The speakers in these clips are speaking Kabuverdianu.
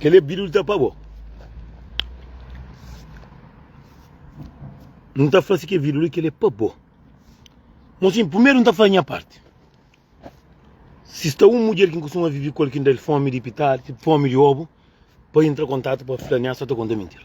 Kel é pdidu di ta pa bo. N ta fla si ki é pdidu li, kel é pa bo. Mo si, primeru N ta fla nha parti. Si sta un mudjer ki N kustuma vive ku el ki N da el fomi di pitadi, fomi di obu, pa intra kontatu pa fla-m nha sta ta konta mintira.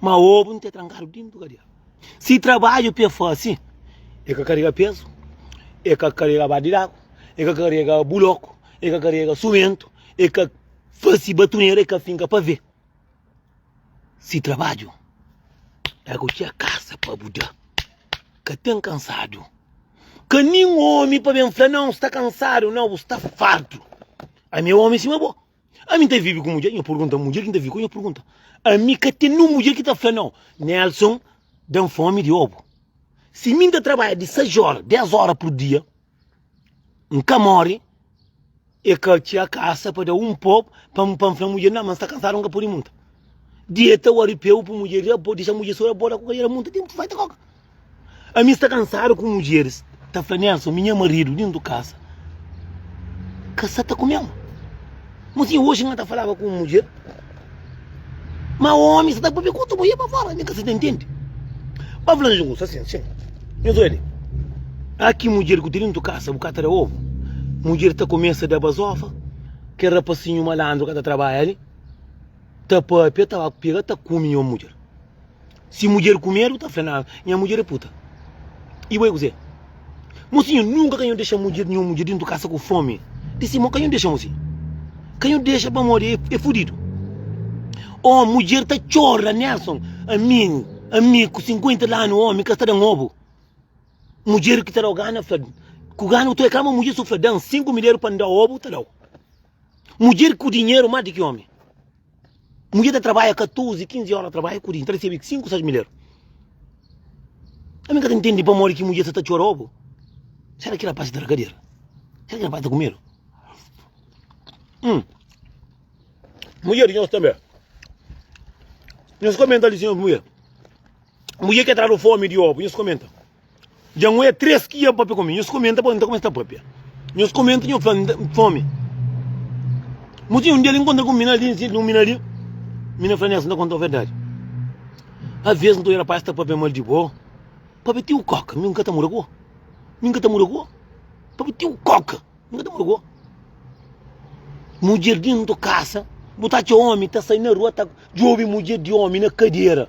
Ma obu N ta trankadu dintu kadia. Si trabadju ki e fasi, e ka karega pezu, e ka karega baldi di agu, e ka karega buloku, e ka karega sumentu, e ka fasi batunera, e ka finka pavê. Si trabadju é ku txia kasa pa bu da, ka ten kansadu. Ka nin omi pa ben fla, Nau, N sta kansadu. Nau, bu sta fartu. Ami é omi sima bo. Ami n ta vive ku mudjer, nha purgunta, mudjer ki n ta vive ku el, nha purgunta, ami ka ten un mudjer ki ta fla nau, Nelson da-m fomi di obu. Si mi n ta trabadja di sais ora, des ora pur dia, n ka mori, e ka txia kasa pa da un pob, pa n pa n fla mudjer, na ma n sta kansadu, n ka pudi munta. Dia ta wariu, pego ku mudjer, abo, dexa mudjer sô, abo da ku kal era munta, ten, vai ta koka. Ami sta kansadu ku mudjeris ta fla Nelson, minha maridu din tu kasa ka sa ta kume-m. Mo si oji N ta falaba ku un mudjer, ma omi sa ta papia ku otu mudjer pa fora. Mi ka sa ta ntende. N ba fla-l justu asin, Txeu, nhos oja li, a ki mudjer ku ten din tu kasa bu ka ta da ovu, mudjer ta kumesa da bazofa, kel rapasinhu malandru ka ta trabadja li ta papia, ta ba pega, ta kume nha mudjer. Si mudjer ku medu ta fla-l, Aa, nha mudjer é puta. I bo é kuzê? Mosinhu, nunka ka nhu dexa mudjer, nhu mudjer dintu kasa ku fomi. Di sima, ka nhu dexa mosi. Ka nhu dexa pamodi é fudidu. Ô, mudjer ta txora, Nelson, ami, ami ku sinkuenta di anu, omi ka sta da-m obu. Mudjer ki ta da-u gana fla-l, Ku gana, bu ta oja ka ma mudjer so fla-l, da-m sinku midjeru pa N da-u obu, ta da-u. Mudjer ku dinheru más di ki omi. Mudjer ta trabadja 14, 15 óra trabadja ku dia, ta resebe 5, 6 mil euro. Ami ka ta ntende pamodi ki mudjer sa ta txora obu. Sera ki rapaz ta tra kadeira? Sera ki rapaz ta kumedu? Hum. Mudjer di nhos tanbe. Nhos komenta li, senhor mudjer. Mudjer ke tradu fomi di obu, nhos komenta. Dja N oia três ki ia pâpia ku mi. Nhos kumenta pa N ta kumesa ta pâpia. Nhos kumenta, nhos fla N ten fomi. Muti un dia el inkontra ku un mina ali, N sinti di un mina ali. Mina fla, Nelson, N ta konta-u verdadi. Aves N ta oia rapaz ta pâpia mal di bo. Pâpia ti-u kóka, mi N ka ta muda ku bo. Mi N ka ta muda ku bo. Pâpia ti-u kóka, mi N ka ta muda ku bo. Mudjer di N ta kasa, bu ta atxa omi ta sai na rua ta djobe mudjer di omi na kadera.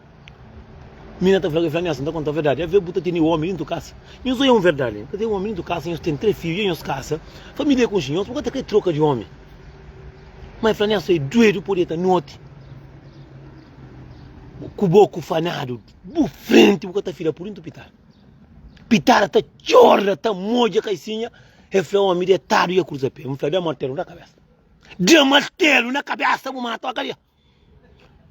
Mina ta fla, fla-mi asin, ta konta verdadi, avê bu ta tene omi dintu kasa? Nhos oi un verdadi, ta tene omi dintu kasa, nhos ten trê fidju, dja nhos kasa, familia ku nxi, nhos bu ka ta krê troka di omi. Mai fla-mi asin, oi, duedu pô deta noti ku boku fanadu bu frenti, bu ka ta fida pur dintu pitara. Pitara ta txorda, ta modja kaisinha, e fla omi detadu dja kruza pé, mi fla, da martelu na kabesa, da martelu na kabesa bu mata-u akaliá.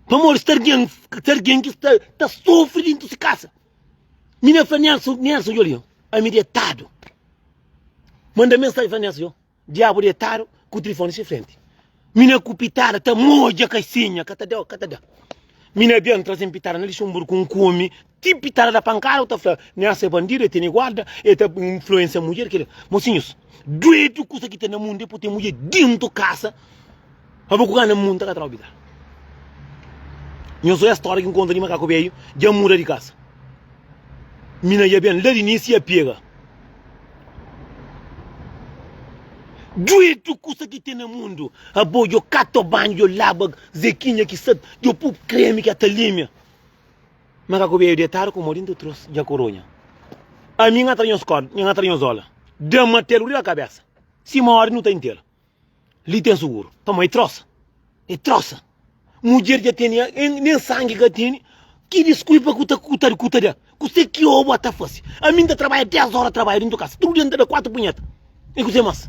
Pamodi sta argen, sta argen ki sta ta sofri dintu si kasa. Mi na fla Nelson, Nelson yo li yo, ami detadu. Manda mensagem fla Nelson yo, diabu detadu ku trifone si frenti. Mi na ku pitada ta moja kasinha, ka ta da, ka ta da. Mi na ben trazen pitada na lixon buru ku un ku omi. Tipi ta da pankada u ta fla ne asa é bandidu, é tene guarda, é ta influensia mudjer ke li. Mosinhus, duedu kusa ki ta na mundu é pui ten mudjer dentu kasa pa bu kuka na munta ka tra obitar. Nhos oia storia kin konta di makaku beyu dja muda di kasa. Mi na ia ben la di nisi ia pega. Duedu kusa ki ten na mundu abo djo kata banhu djo laba zekinha ki sa djo pu kremi ki ata limia. Ma ka ku beiu detadu ku mo dintu trus dja ku runha Ami n'ga tra nhos kod, nha n'ga tra nhos ola Dam matelu riba kabesa Sima odi nu ta intela Li ten suguru Pamó e trosa, e trosa Mudjer dja tene, nen sangi ka tene Ki diskulpa ku ta, ku ta, ku ta da Kuse ki oba ta fase Ami n'ta trabadja dés ora trabadja dintu kasa Tudu dia n'ta da kuatu punheta E kuse mas.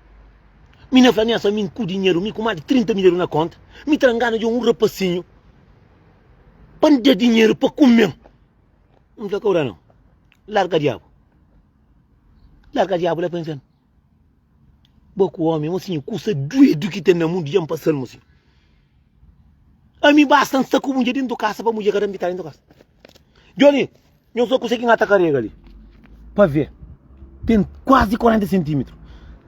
Mi na fla amiasa mi nku dinheru, mi ku más di 30 mil eru na konta, mi tra ngana djon un rapasinhu pa N da dinheru pa kume-m. N fla kaura nau, larga diabu, larga diabu la pa infiernu. Bo ku omi, mosinhu, kusa duedu ki ten na mundu dja N pasa-l, mosinhu. Ami basta N sta ku bu dja dentu kasa pa bu dja ka da-m bitada dentu kasa. Djoni. Nhos ta konsegi ngata karega li pa ve. Ten kuazi 40 sentimitru.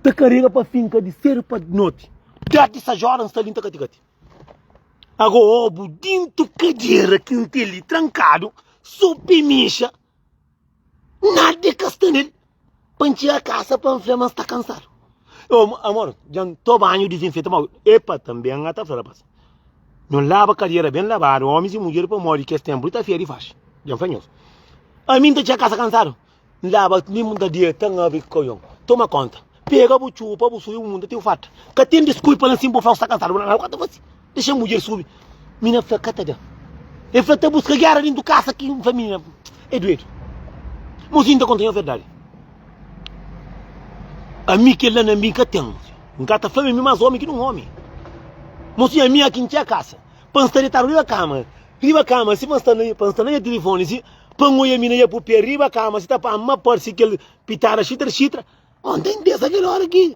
Ta karega pa finka di sedu pa noti. Deti sa jora n sta li n ta katikati. Ago obu dintu kadera ki n ten li trankadu so pemixa nada e ka sta nel. Pa ntxia kasa pa N fla ma N sta kansadu Amor, dja N to banhu dizinfeta mau Epa, tanbe N ta fla rapás Nho laba kadera ben labadu Ómis y mudjer pamodi kes ténpu li ta fia di faxi Dja N fla nhos Ami N ta txia kasa kansadu N laba mimo N ta deta N abri kojon Toma kónta Pega bu txupa bu sui bu munda ti bu farta Ka ten diskulpa la nsin bu fla bu sta kansadu Nau ka ta fase. Dexa mudjer subi. Mina fla ka ta da. E fla ta buska gera dentro casa ki fla mina é doedo. Mozinho ta conta nho verdade. A mi kel la na mi ka tem. Nka ta fla mi mas homem ki não homem. Mozinho a mi aki ntia casa. Pa nsta detado riba cama. Riba cama si pa nsta na pa nsta na ya telefone si pa nho ya mina ya pu pé riba cama si ta pa ma parsi kel pitada xitra xitra. Ontem dessa kel hora ki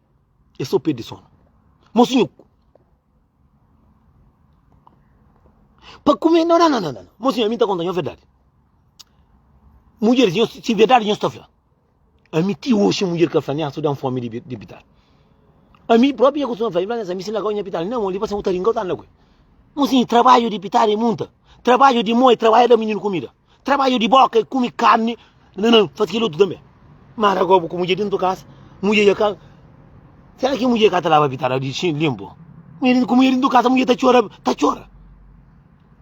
É só perde sonu. Mosi nhu. Pa kume. Nan, nan, nan, nan. Mosi nhu, ami ta konta nho verdadi. Mudjer, si verdadi nho sta fla. Ami ti oxi mudjer ka fla-m, nha, su da-m fomi di pital. Ami propi nha kustuma fla-l, ami si lagau nha pital, nan, li pa sen ku taringa, u ta anda ku el. Mosi nhu, trabadju di pital é munta. Trabadju di moi, trabadju da mininu kumida. Trabadju di boka e kumi karni nanã fasi kel otu tanbe. Mar ago bu ku mudje dentu kasa mudje dja ka sera ki mudje ka ta laba pitada di xinti linpu ku mudje dentu kasa mudje ta txora ta txora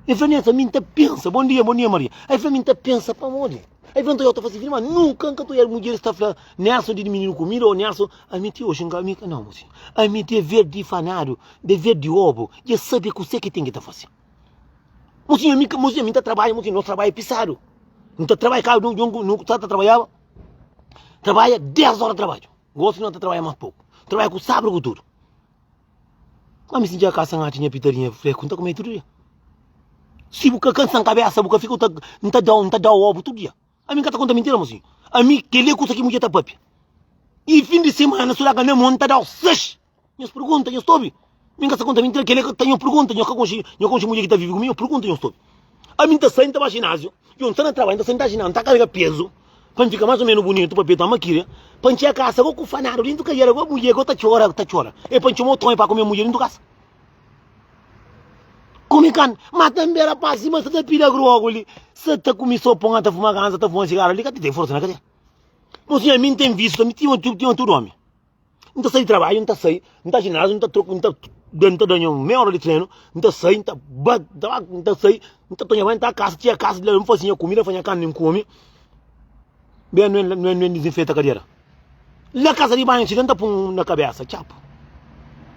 e fla nesa mi nta pensa bon dia bon dia maria e fla mi nta pensa pamodi e fla nta dja ta fasi fri ma nunka nka ta oiadu mudje sta fla nesa di mininu kumida o nesa ami ti oxi nka ami ka nau osi ami te verdi fanadu de verdi obu dja sabi kuse ki ten ki ta fasi. Mos inha mi ka mos inha mi ta trabadja mos inha nos trabadja pisadu nu ta trabadja kada un djon ku nu sa ta trabadjaba trabadja 10 óra trabadju gosi nu ta trabadja más poku trabadja ku sabri ku tudu ma mi si dja ka sa nhachi nha pitadinha freku nu ta kume tudu dia si bu ka kansa kabesa bu ka fika nu ta da nu ta da obu tudu dia ami nu ka ta konta mintira mos inha ami kele kusa ki mudjer ta papia i fin di simana su da ka na mon nu ta dau seis. Nhos pergunta, nhos ta obi. Mi n ka sta konta mintira, kel-li é nhos pergunta. Nhos ka konxe nhos konxe mudjer ki ta vive ku mi? Nhos pergunta, nhos ta obi. Ami n ta sai, n ta ba jináziu. Djon, n sta na trabadju, n ta sai, n ta jináziu, n ta karga pezu pa n fika más ô ménus bunitu pa petu Amakiri. Pa n txiga kasa gosi ku fanadu déntu kajera, gosi mudjer gosi ta txora, ta txora. É pa n txoma otu ome pa kome mudjer déntu kasa. Kume kan, má tanbe rapás sima sa ta pida grogu li, sa ta kume sopu nha ta fuma ganza, ta fuma sigaru li, ka ta ten forsa na kazia. Mos nha, mi n ten vísiu ta mi tima tudu ome. N ta sai di trabadju, N ta sai, N ta jináziu, N ta troka, N ta da, N ta da nha mei óra di trenu, N ta sai, N ta ba, N ta ba, N ta sai, N ta tonha banhu, N ta kasa, txia kasa, di la N faze nha kumida, N faze nha karni, N kume, ben N ben, N ben N dizinfeta kadera. La kasa di banhu txiga N ta pun na kabesa, txapu,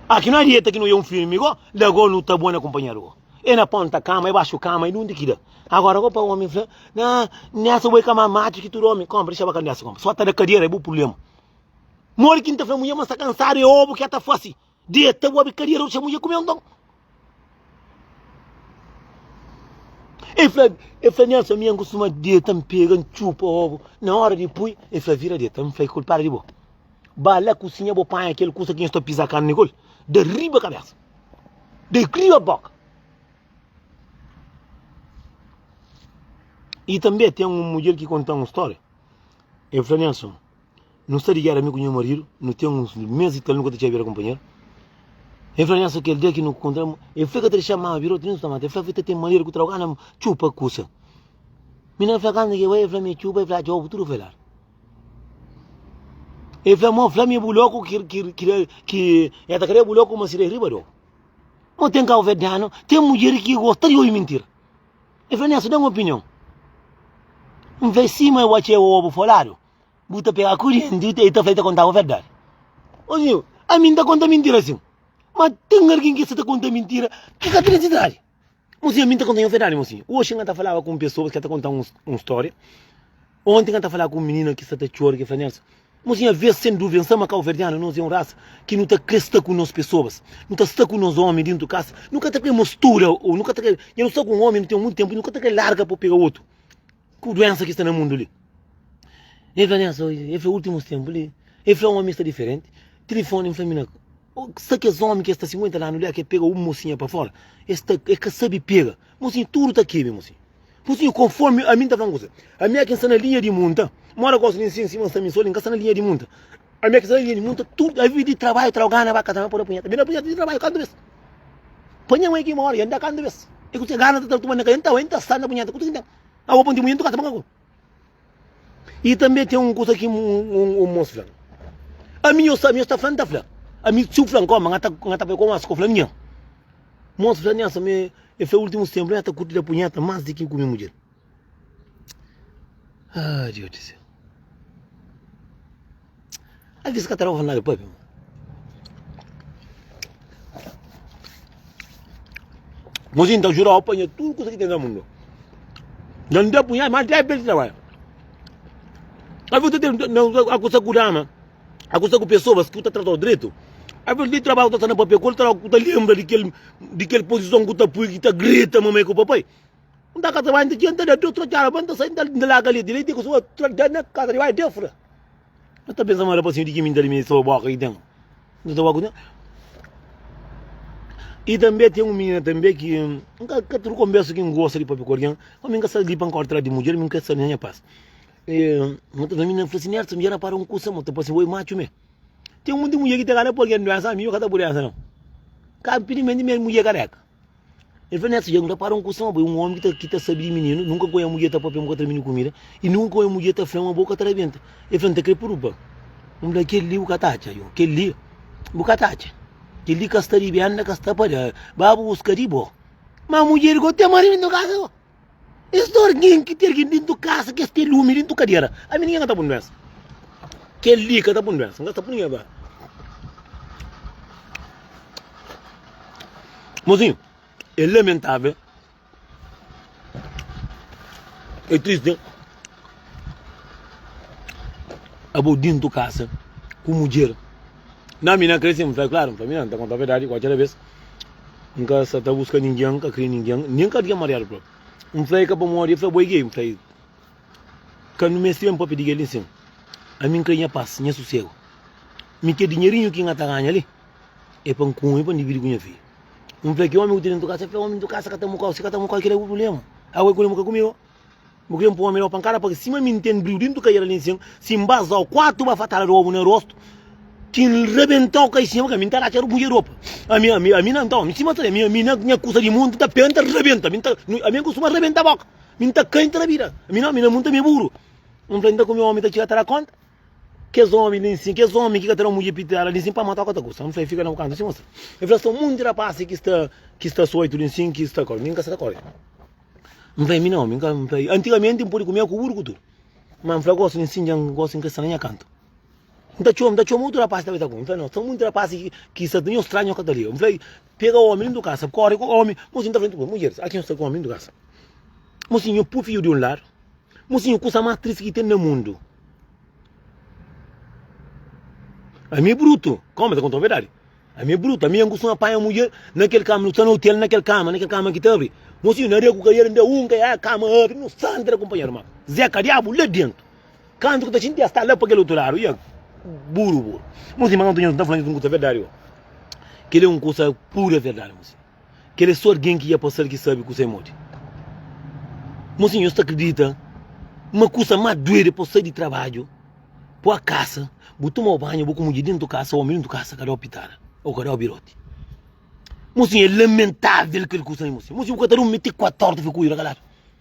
a ki no adieta ki no ua un filmi go, la go no ta bon na kunpanheru go, e na ponta kama, e baxu kama, e nunde ki da. Agora go pa omi fla, na, nessa bo e ka ma matxu ki tudu omi, konpa, dexaba ka nessa, konpa, so ta da kadera e bu purblema. Modi ki N ta fla munhê ma N sta kansadu? É obu ki el ta fase, deta, bo obi kadiera, otxa munhê ku mi. Nton, el fla, el fla, Nelson, ami N kustuma deta, N pega, N txupa obu. Na óra di pui, el fla, vira deta. N fla, i kulpadu di bo. Ba la kusinha, bo panha kel kusa ki nhos ta pisa karni ku el, da riba kabésa, da riba bóka. I tanbê ten un mudjer ki konta-m un stória, el fla, Nelson. Nu sta di géra mi ku nha maridu, nu ten uns mês i tal nu ka ta txeba bira kunpanheru. El fla, Nhanso, kel dia ki nu kontra, el fla el ka ta dexa-m mama bira otu, nen nu sta mata. El fla, Fi, ta ten manera ku tra bo ka na txupa kusa. Mi na fla, Kanta ki é bo? El fla, Mi é txupa. El fla, Atxa, obu tudu foi ladu. El fla, Mo, fla-mi bu lóku ki el ta kre bu lóku ma sidadi riba di obu. Mo, ten kabuverdianu, ten mudjer ki gosta di obi mintira. El fla, Nhanso, da-m opinion. N fla, Sima, eu atxa é obu foi ladu. Bu ta pega kurienti, e ta fla i ta kontaba verdadi. Ô senhor, a mi N ta konta mintira sin. Ma ten algin ki sta ta konta mintira ki ka ten nesidadi. Mon senhor, mi N ta konta-u verdadi, mon senhor. Oxi N ta falaba ku un pesoa ki sta ta konta un un storia. Onti N ta falaba ku un minina ki sta ta txora, ki fla, Nelson, mon senhor, avês, sen duvia, N sa ma kauverdianu nos é un rasa ki nu ta krê sta ku nos pesoas. Nu ta sta ku nos omi dentu kasa. Nu ka ta krê mustura. Ô nu ka ta krê. Nha nu sta ku un omi, nu ten monti ténpu, nu ka ta krê larga pa bu pega otu. Ku duénsa ki sta na mundu li. El fla-m esa oji, el fla últimus ténpu li, el fla un ómi sta diferenti. Tilifóni, el fla-m na. Sa kes ómi ki es sta sinkuenta anu li, a ki el pega un mosinha pa fóra, es ta, el ka sabe pega. Mosinha, tudu ta kebe, mosinha. Mosinha, konfórmi ami N ta fla-m kusa, ami a ki N sta na linha di munta, mora gosi li nsin, sima N sta mi sô li, N ka sta na linha di munta. Ami a ki sta na linha di munta, tudu a vive di trabaiu, tra, gana ba kasa, n pode punheta. Ami na punheta di trabaiu kantu bês? Pa nha mãe ki mora, i N da kantu bês? I kutu ki gana ta ta tuma-m na kasa, N ta bai, N ta sai na punheta, kutu ki N ten? Awa ponte munhê ntuka ta banga ku. E tanbê ten un kusa ki un mos fla. Ami nho sabi, nho sta fla, N ta fla. Ami si u fla N koma, N ta bai koma si ko fla nha. Mos fla nha sama e e fla ultimus tenpu nha ta kurti da punheta mas di ki ku mi mudjer. Haa Deus di sel. Ai ki se ka ta daba nada pape. Mozinho ta jurau panha tudo coisa que tem no mundo. Não dá punha, mas dá bem trabalho. A vida tem a coisa curama, a coisa com pessoas que tá tratando direito. A vida tem trabalho que tá na papel, quando tá lembra de aquele, de aquele posição que tá pui, que tá grita mamãe com o papai. N ta ka ta bai, n ta dja, n ta da Deus tra txara, ba n ta sai, n ta laga leti, leti ku sua tra da na kasa di bai Deus fra. N ta pensa ma rapasinhu di ki mi n ta limi so boka i ten, n ta ba ku ten. I tanbe ten un minina tanbe ki n ka ka tudu konbersa ki n gosta di papia ku algin, ma mi n ka sta li pa n ka tra di mudjer, mi n ka sta na nha pas. E ma ta fla minina, fla si, Nerson, mi dja rapara un kusa, ma ta parse bo i matxu me. Ten monti mudjer ki ta kala pa algin duensa, mi mi ka ta bu duensa nau. Ka, inpidimenti mi é mudjer kareka. El fla Nessa, dja nu ta para un kusa, ma bo é un ómi ki ta sabe di mininu, nunka ku nha mudjer ta pâpia ma bu ka tra mininu kumida, i nunka ku nha mudjer ta fla ma bo ka tra benta. El fla, N ta krê puru pa N fla kel-li, bu ka ta atxa. Yo, kel-li bu ka ta atxa. Kel-li ka sta di benda, ka sta pa da. Ba, bu buska di bo. Má mudjer di Gote mori, ben ta kasa bo. Es dor nin ki ter gen dintu kasa kes te lumi dintu kadera ami ninge ka ta pun duensa kel li ka ta pun duensa nga ta pun ninge ba mozinho e lamentável e triste. Abo dintu kasa ku mudjer. Na mi na krê sin, fla klaru, fla mi na ta konta verdadi kualker da bes. N ka sa ta buska ningen, ka kre ningen, nen ka dia mariadu propi. N fla e ka pamodi e fla bo e gei, n fla e ka nu meste ben propi di gei li nsin. Ami n kre nha pas, nha susegu. Mi kre dinherinhu ki nha ta ganha li e pa n kume e pa n dividi ku nha fidju. N fla ki omi ku tene dintu kasa, e fla omi dintu kasa ka ta mukau, si ka ta mukau kila e bu prubléma, agu e ku lemu ka kumigu. Bo krê-m pô-m da-u pankada pa-k Sima mi n'ten briu dentu kaiera li n'sen Si n'basa-u kuatu bafatada d'obu na rostu Ki n'rebenta-u kaixinha pa-k Ami n'ta ratxa rubus e ropa Ami, ami, ami na, nton, sima ta Ami, ami na, nha kusa di monti ta penta N'ta rebenta, ami n'ta, nu, ami n'kustuma rebenta boka Mi n'ta kai n'ta na bida Ami na, ami na munta mi buru Ami fla-l n'ta ku mi omi ta txiga ta da konta Kes omi li n'sin, kes omi ki ka ta da mudje pitela li n'sin Pa mata-u ka ta kusta, ami fla-l fika na bu kantu sima sta El fla sta un monti rapasi ki sta, ki sta sueltu li n'sin, ki sta kó Mi n'ka sa ta kóre. N fla, Mi nau, mi ka, n fla, antigamenti n pode kumia ku buru ku tudu. Má n fla, Gosi, n sinja, n gosi, n ka sta na nha kantu. N ta txoma, n ta txoma otu rapás ta bai ta ku mi. N fla, Nau, sta munti rapás ki, ki sta ta, nho stranhu, nho ka ta liga. N fla, Pega ómi dentru kasa, kóre ku ómi. Mo si N ta fla tudu mudjeris, aki nho sta ku ómi dentru kasa. Mo si nho pui fidju di un ladu. Mo si nho kusa más tristi ki ten na mundu. Ami brutu, ka ómi ta konta-m verdadi. Ami é brutu, ami é ngustu na panha mudjer na kel kama, nu sta na otel na kel kama, na kel kama ki ta abri. Mosinhu na regu ka el, nda un ka el, kama abri, nu sta ntra kunpanheru. Ma Zeka diabu la dentu, kantu ki ta xinti el sta la pa kel otu ladu, ia buru buru. Mosinhu ma kantu nhos ta fla nhos un kusa verdadi, oh, kel é un kusa pura verdadi, mosinhu. Kel é sô algen ki dja pasa-l ki sabe kusa é modi. Mosinhu, nhos ta kridita ma kusa más duedu é pa bu sai di trabadju, poi kasa, bu toma banhu, bu kumudja déntu kasa, ómi déntu kasa ka da-u pitara ô ka da-u biroti? Mosinhu, é lamentável kel kusa li, mosinhu. Mosinhu, bu ka ta durmi ti kuatu óra ta fika kuadju na kaladu?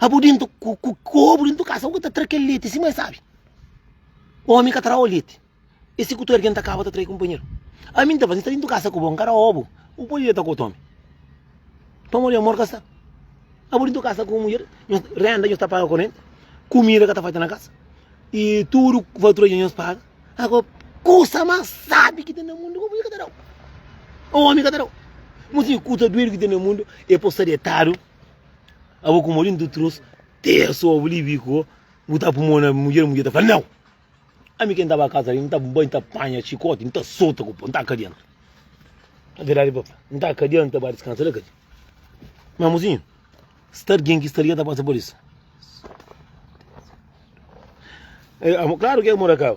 Abu dintu ku ku kobu dintu kasa u ka ta tra kel leti si ma e sabi omi ka tra o leti e si ku tudu algen ta kaba ta trai kunpanheru ami n ta fazi ta dintu kasa ku bo n ka ra obu u podi deta ku otu omi pamodi di amor ka sta abu dintu kasa ku un mudjer nhos renda nhos ta paga korenti kumida ka ta falta na kasa i tudu fatura di nhos paga ago kusa mas sabi ki ten na mundu ku mudjer ka ta dau omi ka ta dau npoi si kusa duedu ki ten na mundu e po sta detadu. Abo como lindo trouxe ter só oblivico, botar por mão na mulher, mulher tá falando, não! A mim quem tava a casa ali, não tá bem, tá panha, chicote, não tá solta, não tá cá dentro. A verdade, papai, não tá cá dentro, vai descansar lá, cadê? Meu amorzinho, se tá alguém que está ali, tá passando por isso. É, claro que é morar cá.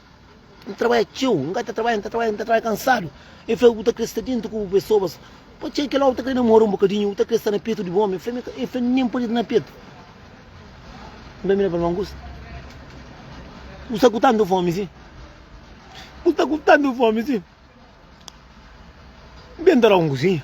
N trabadja txeu, N ka ta trabadja, N ta trabadja, N ta trabadja kansadu. El fla, Bu ta krê sta déntu ku bu pesobas. Pa txeu kel ómi ta krê namora un bokadinhu, bu ta krê sta na petu di bu ómi. El fla, Nen pode sta na petu. N ta mira pa el, Má Augustu, bu sta ku tantu fómi si? Bu sta ku tantu fómi si? Ben ta da un kuzinha.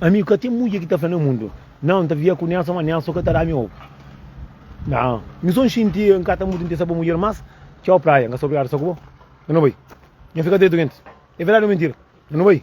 Ami ka ten mudje ki ta fla na mundu, Nau, N ta vivia ku Nelson, ma Nelson ka ta da-mi obu. Nau, mi so N xinti N ka ta muda, N ten sabor mudjer. Mas, txau, Praia, N ka sta obrigadu sta ku bo. N ka na bai. Nha fi ka ta é durenti. É verdadi o mentira? N ka na bai.